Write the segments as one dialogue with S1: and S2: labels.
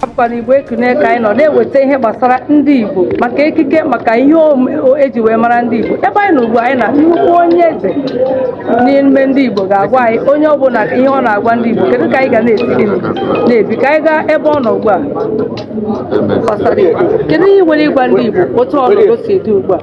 S1: bụkwa na igbo ekunie ka anyị nọ na-eweta ihe gbasara ndị igbo maka ekike maka ihe eji wee mara ndị igbo ebe anyị nọ ugbu a anyị na nnukwu onye eze n'ime ndị igbo ga-agwa anyị onye ọ bụ na ihe ọ na-agwa ndị igbo kedu ka anyị ga na-esi gịnị na-ebi ka anyị gaa ebe ọ nọ ugbu a kedu ihe i nwere ịgwa ndị igbo otu ọnọdụ si dị ugbu a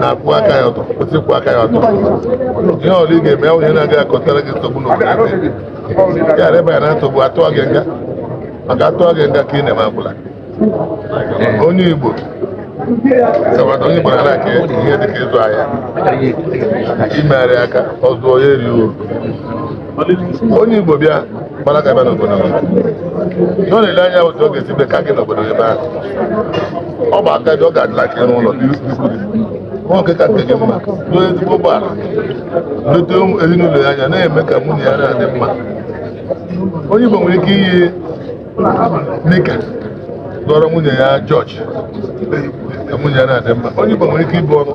S2: na-akwụ aka ya ọtọ kwesị ịkwụ aka ya ọtọ ihe ọbụla ị ga-eme onye na-agaghị akọtara gị nsogbu n'obodo ya reba ya na nsogbu a tụọ gị nga maka a tụọ gị nga ka ị na-eme akwụla onye Igbo sabata onye Igbo na-aka ihe dịka ịzụ ahịa imegharị aka ọzọ ya eri uru onye Igbo bịa gbara aka bịa n'obodo gị ihe ọ na-ele anya otu ọ ga-esi bie ka gị n'obodo ebe ahụ ọ bụ aka dị ọ ga-adịla ka ịrụ ụlọ nke ka nke gị mma nwee ezigbo ụgbọala lete ezinụlọ ya anya na-eme ka nwunye ya na-adị mma onye Igbo nwere ike iyi nika gooro nwunye ya jọji ka nwunye ya na-adị mma onye Igbo nwere ike ibu ọnụ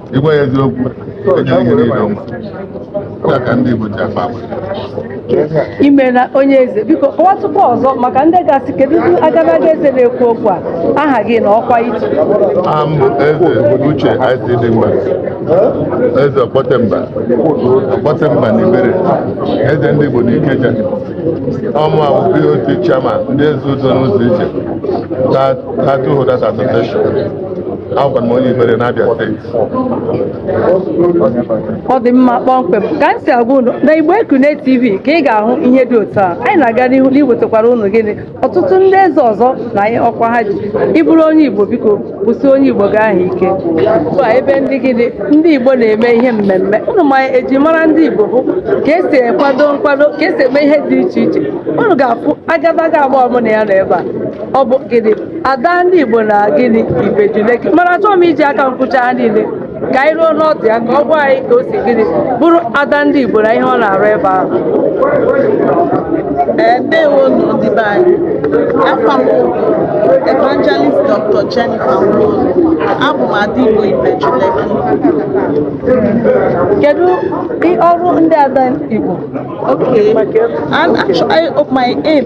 S2: ị gwa ya eziokwu enye ihe niile ọma ya ka ndị Igbo ji akpa
S1: agwa imela onye eze biko kọwatụkwa ọzọ maka ndị ga-asị kedu agadaga eze na-ekwu okwu a aha gị na ọkwa i ji aha m bụ
S2: eze uche ic dimgba eze ọkpọtemba ọkpọtemba na ibere eze ndị igbo na ikeja ọ mụwa bụ bot chairman ndị eze udo n'ụzọ ije Title Holders Association Abụ m onye Ibere na Abia
S1: steeti. ọ dị mma kpọmkwem ka m si agwa unu na igbo ekunie tv ka ị ga-ahụ ihe dị otu a anyị na-aga n'ihu na iwetakwara unu gịnị ọtụtụ ndị eze ọzọ na ọkwa ha ji ị bụrụ onye igbo biko kwụsie onye igbo gị ahụ ike ugbu a ebe ndị gịnị ndị igbo na-eme ihe mmemme unu ma eji mara ndị igbo bụ ka esi ekwado nkwado ka esi eme ihe dị iche iche unu ga-afụ agadaga ada mụ na ya nọ ebe a ọ bụ gịnị ada ndị Igbo na gịnị Ibeju Lekki mana achọghị m iji aka m kwuchaa ha niile ka anyị ruo n'ọdụ ya ka ọ gwa anyị ka o si gịnị bụrụ ada ndị Igbo na ihe ọ na-arụ ebe ahụ
S3: Ee, ndewo nụ ndị be anyị afa m bụ evangelist dr jennifer Nwolu. abụ m ada igbo Ibeju
S1: Lekki. kedu i- ọrụ ndị ada Igbo Okay.
S3: And actually, I, my aim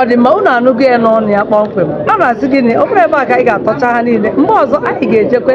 S1: ọ dị mma unu anụgo ya n'ọnụ ya kpọmkwem a na-asị gịnị ọ bụrụ ebe a ka anyị ga-atọcha ha niile mgbe ọzọ anyị ga-ejekwe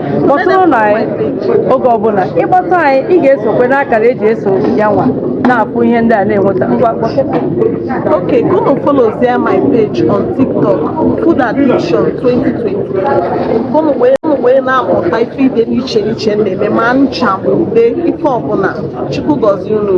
S1: kpọtụrụnụ anyị oge ọbụla ịkpọtụ anyị ị ga-esokwa n'akara eji eso ya nwa na-afụ ihe ndị a na-enweta ngwa kpọtụ
S3: Okay, go and follow there my page on TikTok, Food Addiction 2020. Ka unu wee na-amụta ife dị n'iche n'iche m na-eme ma ncha ma ude ife ọbụla Chukwu gọzie unu.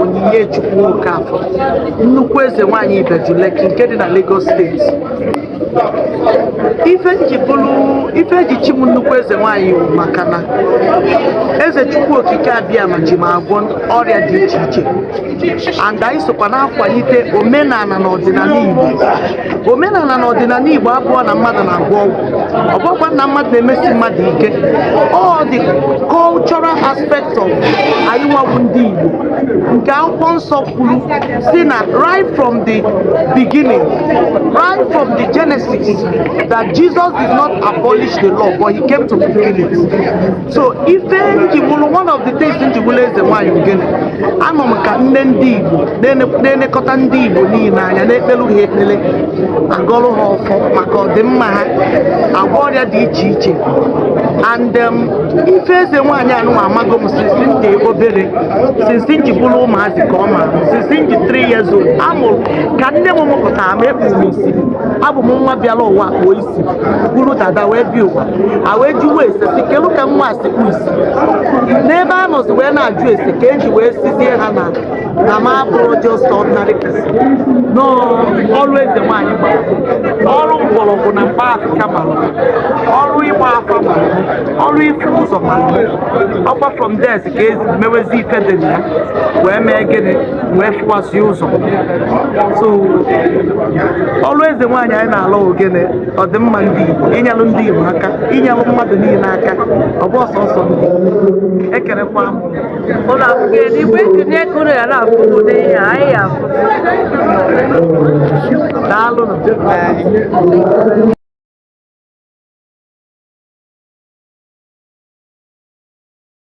S4: Onyinye Chukwu Okafọ nnukwu eze nwanyị Ibeju Lekki nke dị na Lagos steeti ife m ji bụrụ ife eji chi m nnukwu eze nwanyị bụ maka na eze Chukwu Okike Abịama ji m agwọ ọrịa dị iche iche and anyị sokwa na-akwalite omenala na ọdịnala Igbo omenala na ọdịnala Igbo abụrọ na mmadụ na-agwọ ọgwụ ọ bụkwa na mmadụ na-emesi mmadụ ike all the cultural aspect of anyị nwa bụ ndị Igbo nke akwụkwọ nsọ kwuru sị na right from the beginning right from the Genesis that Jesus did not abolish the law but he came to fulfill it so ife m ji wụrụ one of the things m ji wụrụ eze nwaanyị ọ gịnị anọ m ka nne ndị Igbo na-elekọta ndị Igbo niile anya na-ekpelu ha ekpele agọrụ ha ọfọ maka ọdịmma ha agwọ ọrịa dị iche iche and um, ife eze nwaanyị anụnwa amago m since m dị obere since m ji bụrụ ụmụazị ka ọ ma since m dị 3 years old amụrụ ka nne m mụpụtara m ekpuru m isi abụ m nwa bịara ụwa kpuo isi buru dada wee bịa ụwa a wee jụwa ese sị kedu ka nwa si kpu isi n'ebe a nọzi wee na-ajụ ese ka eji wee sịzie ha na na m abụrọ just ordinary person na ọrụ eze nwaanyị gbara m ọrụ mgbọrọgwụ na mkpa afịfịa gbara m ọrụ ịgba afa gbara m ọrụ ịfụ ụzọ gbara m ọkwa from there ka e si mewezi ife dị na ya wee mee gịnị wee fụwasị ụzọ so ọrụ eze nwaanyị anyị na-alụ ọ gịnị ọdịmma ndị Igbo inyelu ndị Igbo aka inyelu mmadụ niile aka ọ bụrọ sọsọ ndị ekerekwa m ụlọ akwụkwọ
S1: eluigwe ekene ego na ya na-afụ ụdị ihe anyị ya
S4: afụ daalụ